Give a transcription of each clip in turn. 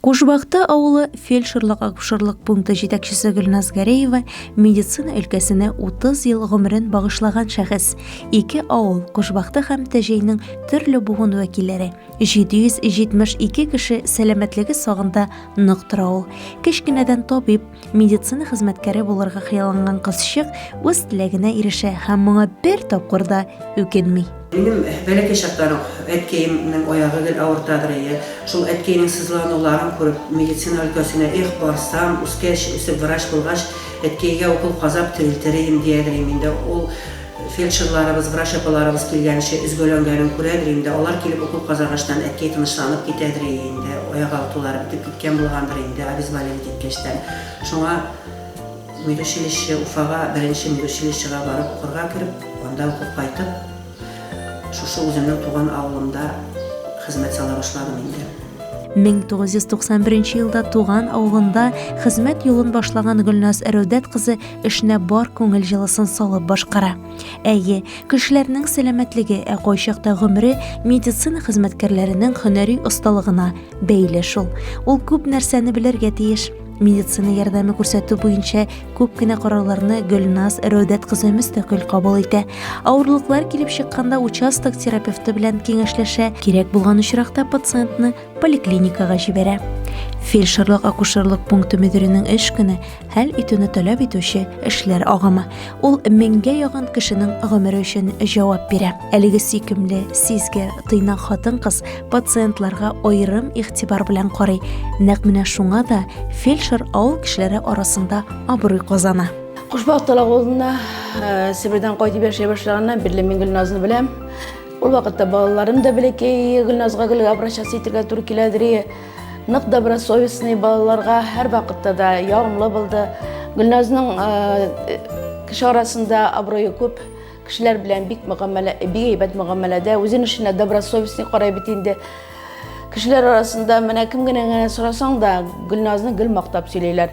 Кушбакта авылы фельдшерлык-акушерлык пункты җитәкчесе Гөлназ Гәрәева, медицина өлкәсенә 30 ел гомерен багышлаган шәхес, ике авыл, Кушбакта һәм Тәҗәйнең төрле буын вәкилләре, 772 кеше сәламәтлеге сагында нык тора ул. Кечкенәдән табиб, Медицина хезмәткәре булырга хыялланган кызчык үз теләгенә ирешә һәм моңа бер тапкыр да үкенми. Минем бәләкәй чактан ук әткәемнең аягы гел авыртадыр иде. Шул әткәйнең сызлануларын күреп, медицина өлкәсенә, эх, барсам, үскәч, үсеп врач булгач, әткәйгә укол казап терелтер идем, диярдер идем инде. Ул Фельдшерларыбыз, врач апаларыбыз килгәнче өзгәләнгәнен күрәдер инде, алар килеп укол казагачтан әткәй тынычланып китәдер ие инде, аяк алтылары бетеп киткән булгандыр инде, обезболивать иткәчтән. Шуңа медучилище, Уфага беренче медучилищега барып укырга кереп, анда укып кайтып, шушы үземнең туган авылымда хезмәт сала башладым инде. 1991 елда туган авылында хезмәт юлын башлаган Гөлназ Рәүдәт кызы эшенә бар күңел җылысын салып башкара. Әйе, кешеләрнең сәламәтлеге, ә кайчакта гомере медицина хезмәткәрләренең һөнәри осталыгына бәйле шул. Ул күп нәрсәне белергә тиеш. Медицина ярдәме күрсәтү буенча күп кенә карарларны Гөлназ Рәүдәт кызы мөстәкыйль кабул итә. Авырлыклар килеп чыкканда участок терапевты белән киңәшләшә, кирәк булган очракта пациентны поликлиникага җибәрә. Фельдшерлык-акушерлык пункты мөдиренең эш көне хәл итүне таләп итүче эшләр агымы. Ул меңгә ягын кешенең гомере өчен җавап бирә. Әлеге сөйкемле, сизгер, тыйнак хатын-кыз пациентларга аерым игътибар белән карый. Нәкъ менә шуңа да фельдшер авыл кешеләре арасында абруй казана. Кушбак талак авылына Себердән кайтып яшәй башлаганнан бирле мин Гөлназны беләм. Ул вакытта балаларым да бәләкәй, Гөлназга гөлгә обращаться итергә туры киләдер. Нык добросовестный балаларга һәр вакытта да ягымлы булды. Гөлназның э, кеше арасында абруе күп кешеләр белән бик мөгамәлә, бик әйбәт мөгамәләдә, үзен эшенә добросовестный карай бит инде. Кешеләр арасында менә кем генә генә сорасаң да, Гөлназны гел мактап сөйлиләр.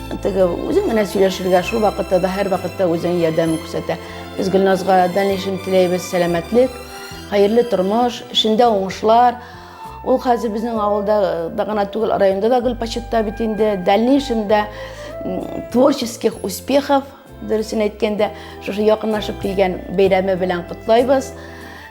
Теге үзең генә сөйләшергә, шул вакытта да һәр вакытта үзең ярдәмен күрсәтә. Без Гөлназга дальнейшем теләйбез, сәламәтлек, хәерле тормыш, эшендә уңышлар. Ул хәзер безнең авылда да гына түгел, районда да гел почетта бит инде. Дальнейшем дә творческих успехов. Дөресен әйткәндә, шушы якынлашып килгән бәйрәме белән котлайбыз.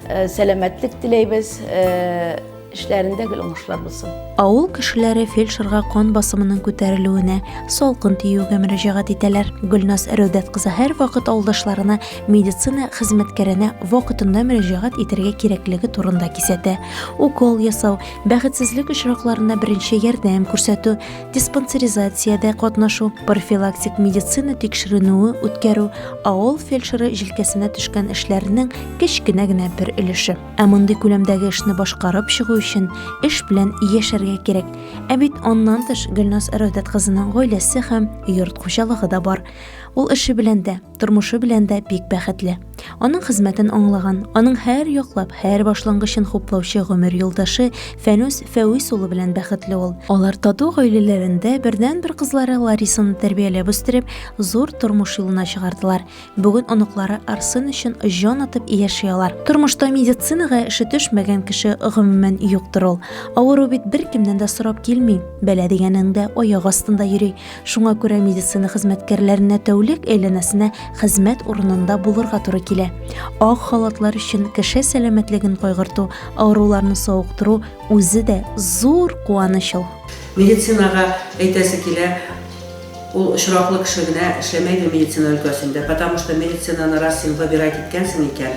Э, сәламәтлек теләйбез. Э, эшләрендә гел уңышлар булсын. Авыл кешеләре фельдшерга кан басымының күтәрелүенә, салкын тиюгә мөрәҗәгать итәләр. Гөлназ Рәүдәт кызы һәрвакыт авылдашларына медицина хезмәткәренә вакытында мөрәҗәгать итәргә кирәклеге турында кисәтә. Укол ясау, бәхетсезлек очракларында беренче ярдәм күрсәтү, диспансеризациядә катнашу, профилактик медицина тикшеренүе үткәрү, авыл фельдшеры җилкәсенә төшкән эшләрнең кечкенә генә бер өлеше. Ә мондый күләмдәге эшне башкарып чыгу өчен эш белән яшәргә кирәк. Ә бит аннан тыш Гөлназ Рәүдәт кызының гаиләсе һәм йорт хуҗалыгы да бар. Ул эше белән дә, тормышы белән дә бик бәхетле. Аның хезмәтен аңлаган, аның һәр яклап, һәр башлангычын хуплаучы гомер юлдашы Фәнүс Фәвис улы белән бәхетле ул. Алар тату гаиләләрендә бердәнбер кызлары Ларисаны тәрбияләп үстереп, зур тормыш юлына чыгардылар. Бүген оныклары Арсен өчен җан атып яши алар. Тормышта медицинага эше төшмәгән кеше гомумән юктыр ул. Авыру бит беркемнән дә сорап килми, бәла дигәнең дә аяк астында йөри. Шуңа күрә медицина хезмәткәрләренә тәүлек әйләнәсенә хезмәт урынында булырга туры килә. Ак халатлар өчен кеше сәламәтлеген кайгырту, авыруларны савыктыру үзе дә зур куаныч ул. Медицинага әйтәсе килә, ул очраклы кеше генә эшләмәйдер медицина өлкәсендә, потому что медицинаны раз син выбирать иткәнсең икән,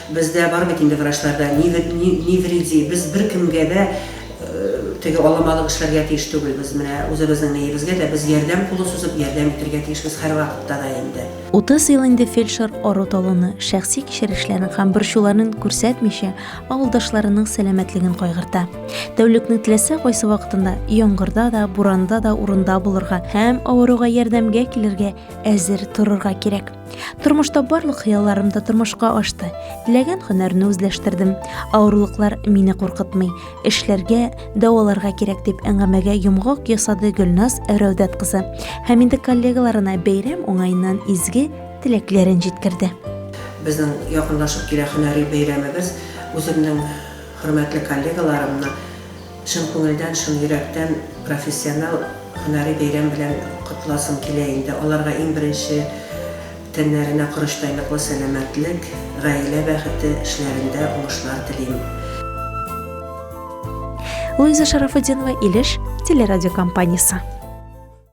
Бездә бар бит инде врачларда ни ни ни вреди, без беркемгә дә теге аламалык эшләргә тиеш түгел, без менә үзебезнең ниебезгә дә без ярдәм кулы сузып ярдәм итергә тиешбез һәрвакытта да инде. Утыз ел инде фельдшер ару-талуны, шәхси кичерешләрен һәм борчуларын күрсәтмичә, авылдашларының сәламәтлеген кайгырта. Тәүлекнең теләсә кайсы вакытында, яңгырда да, буранда да урында булырга һәм авыруга ярдәмгә килергә әзер торырга кирәк. Тормышта барлык хыялларым да тормышка ашты. Теләгән һөнәрне үзләштердем. Авырлыклар мине куркытмый. Эшләргә, дәваларга кирәк дип әңгәмәгә йомгак ясады Гөлназ Рәүдәт кызы. Һәм инде коллегаларына бәйрәм уңаеннан изге теләкләрен җиткерде. Безнең якынлашып килә һөнәри бәйрәмебез. Үземнең хөрмәтле коллегаларымны Чын күңелдән, чын йөрәктән профессиональ һөнәри бәйрәм белән котласым килә инде. Аларга иң беренче тәннәренә корычтайныклы сәламәтлек, гаилә бәхете, эшләрендә уңышлар телим. Луиза Шарафутдинова, Илеш телерадиокомпаниясе.